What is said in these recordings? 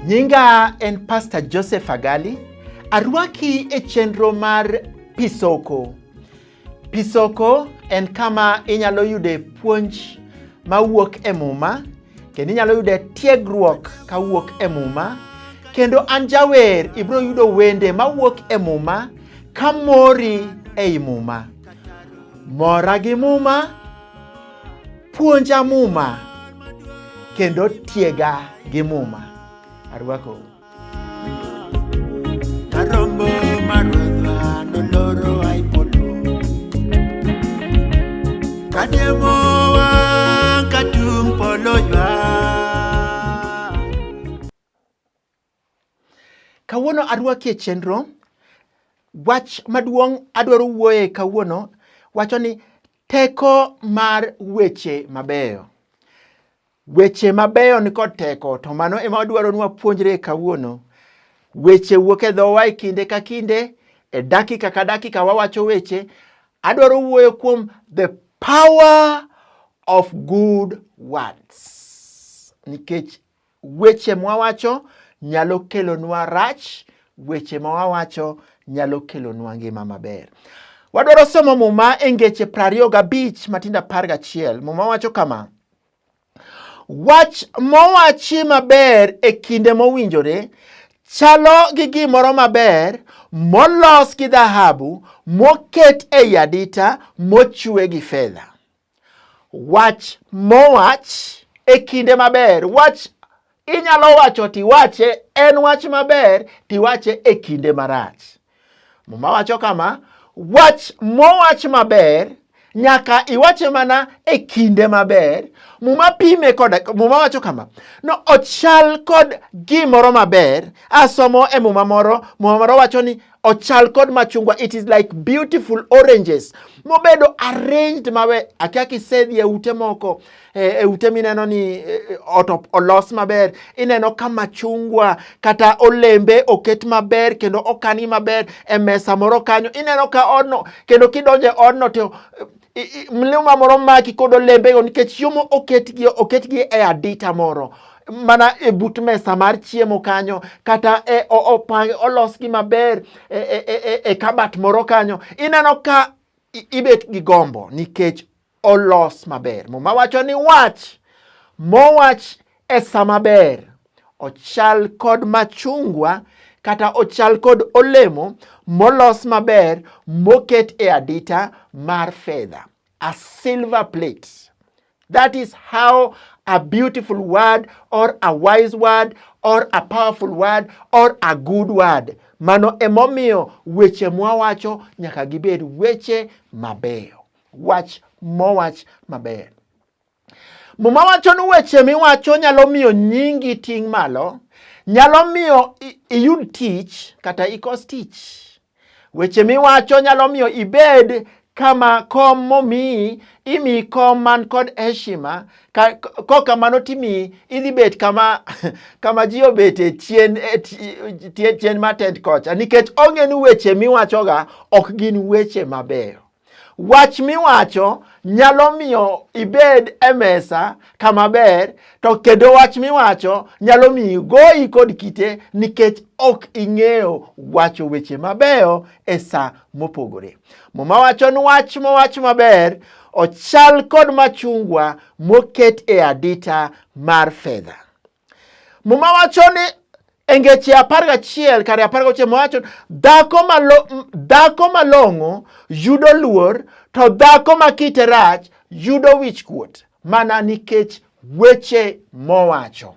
Nyinga en Pastor Joseph Agali. Arwaki e chenro mar Pisoko. Pisoko en kama inyalo yude puonj mawuok e Muma kendo inyalo yude tiegruok kawuok e Muma kendo an jawer ibiro yudo wende mawuok e Muma ka mori ei Muma. Mora gi Muma, puonja Muma kendo tiega gi Muma. Arwakou. Kawuono arwaki e chenro. Wach maduong' adwaro wuoye kawuono wacho ni teko mar weche mabeyo. Weche mabeyo ni kod teko, to mano ema wadwaro ni wapuonjre kawuono. Weche wuok e dhowa e kinde ka kinde, e dakika ka dakika wawacho weche. Adwaro wuoyo kuom the power of good words, nikech weche mwawacho nyalo kelonwa rach, weche ma wawacho nyalo kelonwa ngima maber. Wadwaro somo Muma e ngeche prariyo gabich matindo apar gachiel. Muma wacho kama, Wach mowachi maber e kinde mowinjore chalo gi gimoro maber molos gi dhahabu moket ei adita mochwe gi fedha. Wach mowach e kinde maber, wach Inyalo wacho tiwache en wach maber tiwache e kinde marach. Muma wacho kama, wach mowach maber nyaka iwache mana e kinde maber. Muma pime koda, Muma wacho kama, no ochal kod gimoro maber. Asomo e Muma moro, Muma moro wacho ni ochal kod machungwa it is like beautiful oranges mobedo arranged mawe akia kisedhi e ute moko eh, e ute mineno ni eh, ot olos maber ineno ka machungwa kata olembe oket maber kendo okangi maber e mesa moro kanyo ineno ka odno kendo kidonje odno to mlima moro maki kod olembego nikech chiemo oketgi oketgi e adita moro mana e but mesa mar chiemo kanyo kata e, opang olosgi maber e, e, e, e, e kabat moro kanyo ineno ka ibet gi gombo nikech olos maber muma wacho ni wach mowach e sa maber. Ochal kod machungwa kata ochal kod olemo molos maber moket e adita mar fedha, a silver plate. That is how a beautiful word or a wise word or a powerful word or a good word. Mano emomiyo weche mwawacho nyaka gibed weche mabeyo. Wach mowach maber. Muma wacho ni weche miwacho nyalo miyo nyingi ting' malo, nyalo miyo iyud tich kata ikos tich. Weche miwacho nyalo miyo ibed kama kom momiyi imiyi kom man kod heshima kokamano timiyi idhi bet kama kama ji obet e chien e chien matend kocha nikech onge ni weche miwachoga ok gin weche mabeyo. Wach miwacho nyalo miyo ibed e mesa kama ber, to kendo wach miwacho nyalo miyo goyi kod kite nikech ok ing'eyo wacho weche mabeyo e sa mopogore. Muma wacho ni wach mowach maber ochal kod machungwa moket e adita mar fedha. Muma wacho ni e ngeche apar gachiel kare apar gochiel mowacho dhako malo, dhako malong'o yudo luor to dhako ma kite rach yudo wich kuot mana nikech weche mowacho.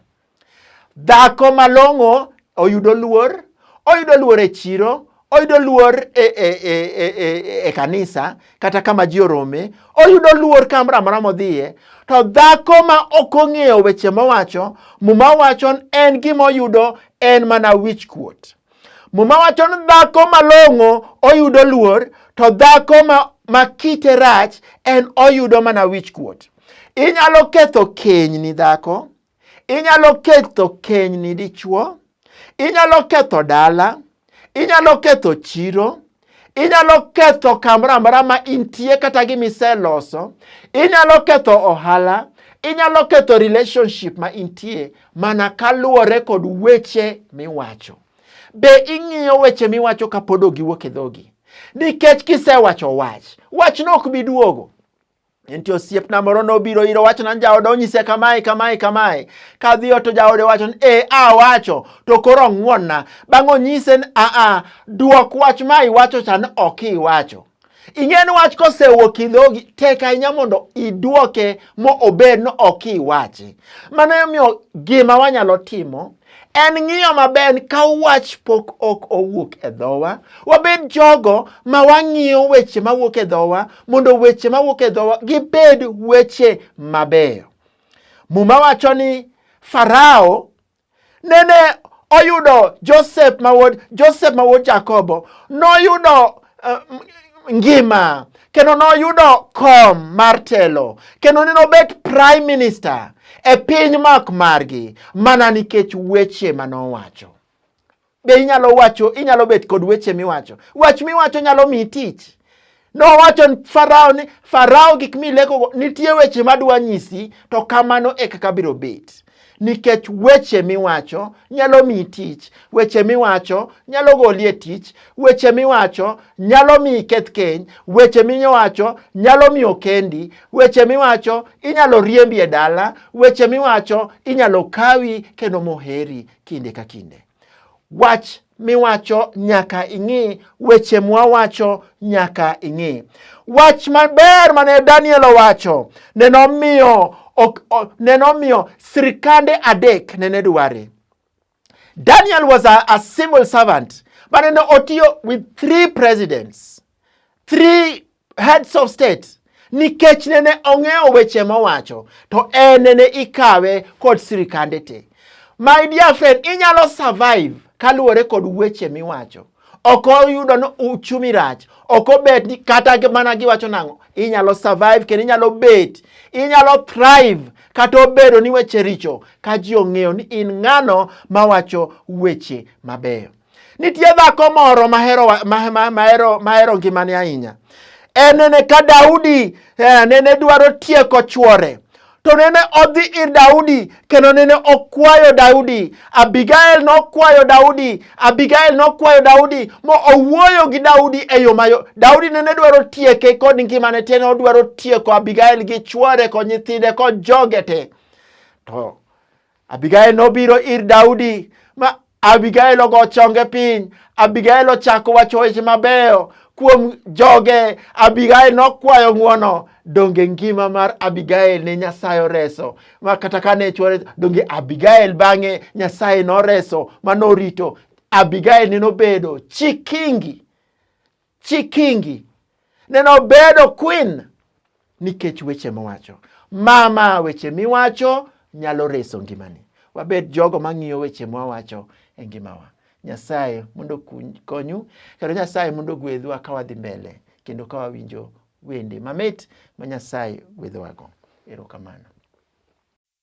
Dhako malong'o oyudo luor, oyudo luor e chiro, oyudo luor e, e, e, e, e, e kanisa kata kama ji orome oyudo luor kamoro amora modhiye to dhako ma ok ong'eyo weche mowacho muma wacho en gima oyudo en mana wich kuot muma wacho ni dhako malong'o oyudo luor to dhako ma, ma kite rach en oyudo mana wich kuot inyalo ketho keny ni dhako Inyalo ketho kenyni dichwo, inyalo ketho dala, inyalo ketho chiro, inyalo ketho kamoro amora ma intie kata gima iseloso, inyalo ketho ohala, inyalo ketho relationship ma intie mana kaluwore kod weche miwacho. Be ing'iyo weche miwacho kapod ogiwuok e dhogi? Nikech kisewacho wach, wachno ok bi duogo. Nitie osiepna moro nobiro iro wacho nan jaode onyise kamae kamae kamae. Kadhi oto jaode wacho ni e a wacho to koro ng'wonna. Bang' onyise ni a a duok wach ma iwacho cha ni ok iwacho. Ing'e ni wach kosewuok e dhogi tek ahinya mondo iduoke mo obed ni ok iwache. Mano emomiyo gima wanyalo timo En ng'iyo maber ka wach pok ok owuok e dhowa. Wabed jogo ma wang'iyo weche mawuok e dhowa mondo weche mawuok e dhowa gibed weche mabeyo. Muma wacho ni Farao nene oyudo Joseph mawod Joseph mawod Jakobo noyudo uh, ngima kendo noyudo kom mar telo kendo ne nobet prime minister e piny mak margi mana nikech weche ma nowacho. Be inyalo wacho inyalo bet kod weche miwacho? Wach miwacho nyalo miyi tich. Nowacho ni Farao ni Farao gik milekogo nitie weche madwa nyisi to kamano e kaka biro bet. nikech weche miwacho nyalo miyi tich, weche miwacho nyalo goli e tich, weche miwacho nyalo miyi keth keny, weche miwacho nyalo miyo kendi, weche miwacho inyalo riembi e dala, weche miwacho inyalo kawi kendo moheri kinde ka kinde. Wach miwacho nyaka ing'i, weche mwawacho nyaka ing'i. Wach maber mane Daniel owacho ne nomiyo ne nomiyo sirkande adek nene dware. Daniel was a, a civil servant but ne otiyo with three presidents, three heads of state nikech nene ong'eyo weche mowacho to en nene ikawe kod sirikande te. My dear friend, inyalo survive kaluwore kod weche miwacho. Ok oyudo ni uchumi rach, ok obet ni kata mana giwacho nang'o. Inyalo survive kendo inyalo bet, inyalo thrive kata obedo ni weche richo ka ji ong'eyo ni in ng'ano mawacho weche mabeyo. Nitie dhako moro mahero, mahero, mahero ngimane ahinya. En nene ka Daudi eh, nene dwaro tieko chwore to nene odhi ir Daudi kendo nene okwayo Daudi. Abigail nokwayo Daudi, Abigail nokwayo Daudi mo owuoyo gi Daudi e yo mayo. Daudi nene dwaro tieke kod ngimane te, ne odwaro tieko Abigail gi chwore kod nyithinde kod joge te. To Abigail nobiro ir Daudi ma Abigail ogo chonge piny. Abigail ochako wacho weche mabeyo kuom joge. Abigail nokwayo ng'wono. Donge ngima mar Abigail ne Nyasaye oreso? Ma kata ka ne chwore, donge Abigail bang'e Nyasaye noreso ma norito? Abigail ne nobedo chikingi Chi Kingi neno obedo queen nikech weche mowacho. Mama, weche miwacho nyalo reso ngimani. Wabed jogo mang'iyo weche mwawacho e ngimawa. Nyasaye mondo konyu kendo Nyasaye mondo gwedhwa ka wadhi mbele kendo ka wawinjo wende mamit ma Nyasaye gwedhowago. Erokamano.